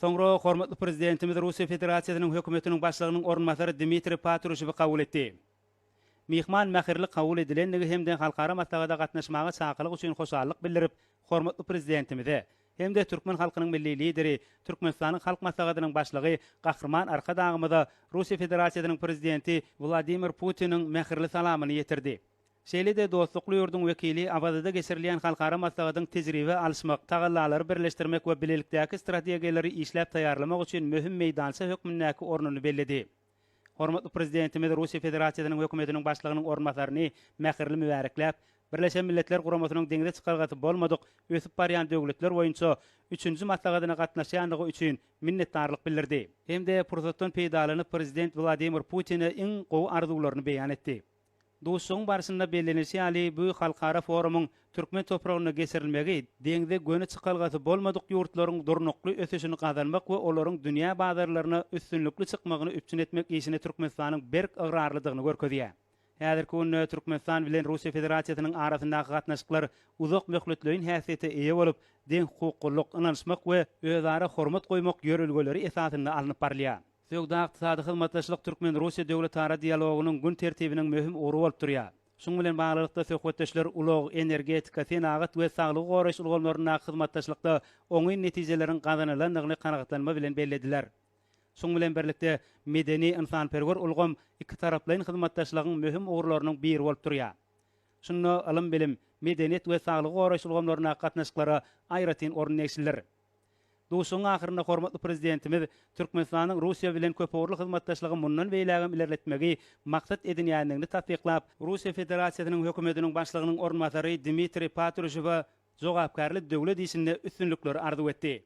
Soňra hormatly Prezidentimiz Russiýa Federasiýasynyň Hökümetiniň Başlygynyň orunbasary Dmitriý Patruşewi kabul etdi. Myhman mähirli kabul edilendigi hem-de halkara maslahata gatnaşmaga çakylyk üçin hoşallyk bildirip, hormatly Prezidentimize hem-de türkmen halkynyň Milli Lideri, Türkmenistanyň Halk Maslahatynyň Başlygy Gahryman Arkadagymyza Russiýa Federasiýasynyň Prezidenti Wladimir Putiniň mähirli salamyny ýetirdi. Şeýle-de dostlukly ýurduň wekili Awazada geçirilýän halkara maslahatyň tejribe alyşmak, tagallalary birleşdirmek we bilelikdäki strategiýalary işläp taýýarlamak üçin möhüm meýdança hökmündäki ornuny belledi. Hormatly Prezidentimiz Russiýa Federasiýasynyň Hökümetiniň Başlygynyň orunbasaryny mähirli mübärekläp, Birleşen Milletler Guramasynyň deňze çykalgasy bolmadyk ösüp barýan döwletler boýunça üçünji maslahatyna gatnaşýandygy üçin minnetdarlyk bildirdi. Hem-de pursatdan peýdalanyp, Prezident Wladimir Putine iň gowy arzuwlaryny beýan etdi. Duşuşygyň barşynda bellenilişi ýaly, bu halkara forumyň türkmen topragynda geçirilmegi deňze göni çykalgasy bolmadyk ýurtlaryň durnukly ösüşini gazanmak we olaryň dünýä bazarlaryna üstünlikli çykmagyny üpjün etmek işine Türkmenistanyň berk ygrarlydygyny görkezýär. Häzirki günde Türkmenistan bilen Russiýa Federasiýasynyň arasyndaky gatnaşyklar uzak möhletleýin häsiýete eýe bolup, deňhukuklylyk, ynanyşmak we özara hormat goýmak ýörelgeleri esasynda alnyp barylýar. Söwda-ykdysady hyzmatdaşlyk türkmen-russiýa döwletara dialogynyň gün tertibiniň möhüm ugry bolup durýar. Şunuň bilen baglylykda, söhbetdeşler ulag, energetika, senagat we saglygy goraýyş ulgamlaryndaky hyzmatdaşlykda oňyn netijeleriň gazanylandygyny kanagatlanma bilen bellediler. Şuň bilen birlikde, medeni-ynsanperwer ulgam ikitaraplaýyn hyzmatdaşlygyň möhüm ugurlarynyň biri bolup durýar. Şunda ylym-bilim, medeniýet we saglygy goraýyş ulgamlaryndaky gatnaşyklara aýratyn orun degişlidir. Duşuşygyň ahyrynda hormatly Prezidentimiz Türkmenistanyň Russiýa bilen köpugurly hyzmatdaşlygy mundan beýlägem ilerletmegi maksat edinýändigini tassyklap, Russiýa Federasiýasynyň Hökümetiniň Başlygynyň orunbasary Dmitriý Patruşewe jogapkärli döwlet işinde üstünlikleri arzuw etdi.